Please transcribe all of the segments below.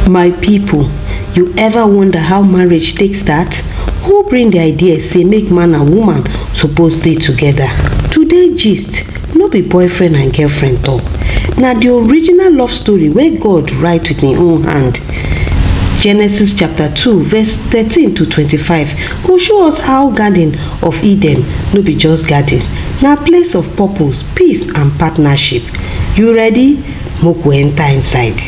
My people, you ever wonder how marriage take start? Who bring the idea say make man and woman suppose dey together? Today gist no be boyfriend and girlfriend talk. Na the original love story wey God write with im own hand. Genesis chapter 2 verse 13 to 25 go show us how garden of Eden no be just garden, na place of purpose, peace and partnership. You ready? make we enter inside.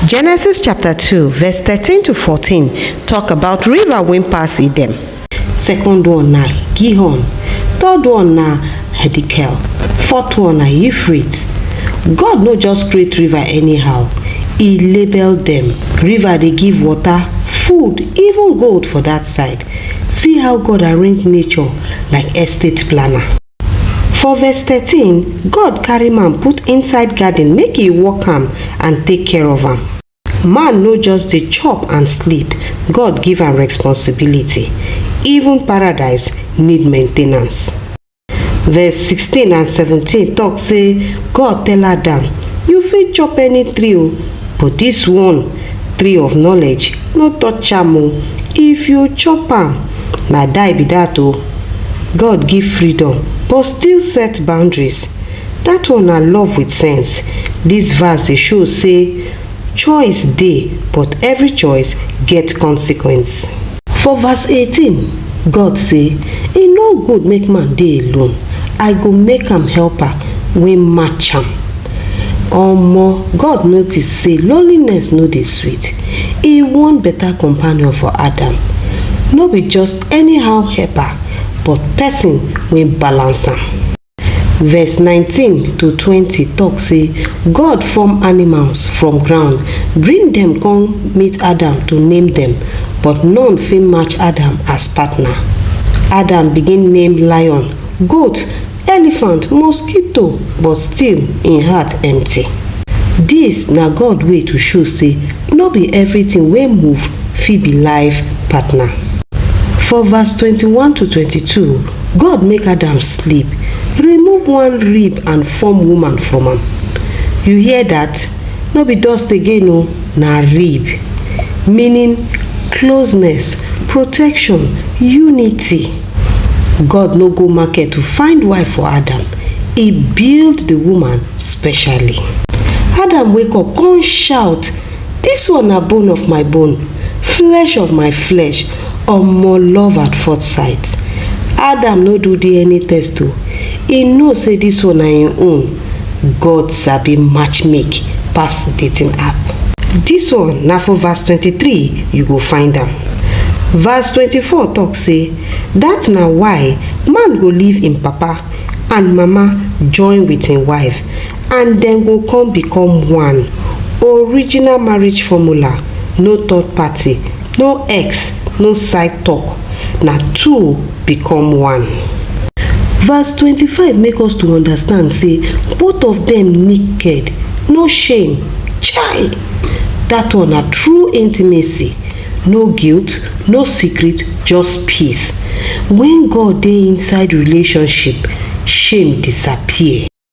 Genesis chapter 2 verse 13 to 14 talk about river wey pass Edom. Second one na Gihon, third one na Hedikel, fourth one na Euphrates. God no just create river anyhow, e label dem. River dey give water, food, even gold for that side. See how God arrange nature like estate planner. For verse 13, God carry man put inside garden make e work am and take care of am. Man no just dey chop and sleep, God give am responsibility. Even paradise need maintenance. Verse 16 and 17 talk say God tell Adam, you fit chop any tree o, but this one, tree of knowledge, no touch am o. If you chop am, na die be that o. God give freedom but still set boundaries. That one na love with sense. This verse dey show say choice dey but every choice get consequence. For verse 18, God say, E no good make man dey alone, I go make am helper wey match am. Omo, God notice say loneliness no dey sweet, e want better companion for Adam. No be just anyhow helper, but person wey balance am. Verse 19 to 20 talk say God form animals from ground, bring dem come meet Adam to name dem, but none fit match Adam as partner. Adam begin name lion, goat, elephant, mosquito, but still im heart empty. Dis na God way to show say no be everything wey move fit be life partner. For verse 21 to 22, God make Adam sleep, remove one rib and form woman from am. You hear that? No be dust again o, na rib. Meaning closeness, protection, unity. God no go market to find wife for Adam, e build the woman specially. Adam wake up come shout This one na bone of my bone, flesh of my flesh, omo love at fourth sight. Adam no do DNA test o, e know say this one na him own, God sabi match make pass dating app. This one na for verse twenty three you go find am. Verse twenty four talk say that na why man go leave him papa and mama join with him wife And dem go come become one, original marriage formula, no third party, no ex, no side talk, na two become one. Verse twenty five make us to understand say both of dem naked, no shame, chai! That one na true intimacy, no guilt, no secret, just peace. When God dey inside relationship, shame disappear.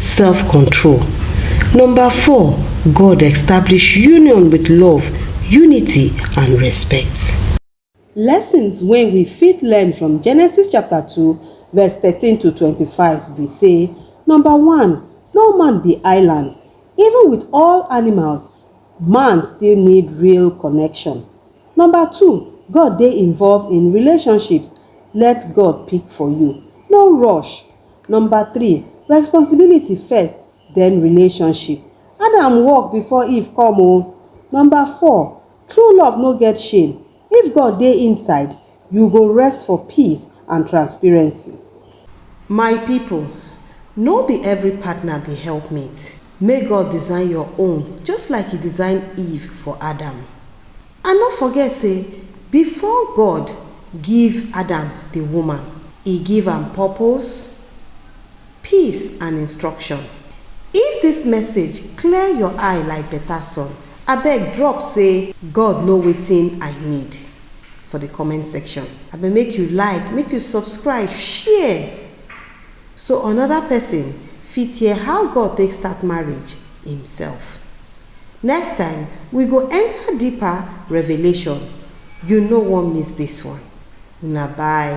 self control. Number four, God establish union with love, unity and respect. Lessons wey we fit learn from Genesis chapter 2 verse 13 to 25 be say, number one, no man be island. Even with all animals, man still need real connection. Number two, God dey involved in relationships, let God pick for you. No rush, Number three, Responsibility first, then relationship. Adam work before Eve come o. Number four, True love no get shame, if God dey inside, you go rest for peace and transparency. My people, no be every partner be helpmate, make God design your own just like He design Eve for Adam. And no forget say before God give Adam the woman, e give am purpose, peace and instruction. If this message clear your eye like better sun, abeg drop say God know wetin I need for the comment section. Abeg make you like, make you subscribe, share so another person fit hear how God take start marriage himself. Next time, we go enter deeper revelation, you no wan miss this one. Una bye.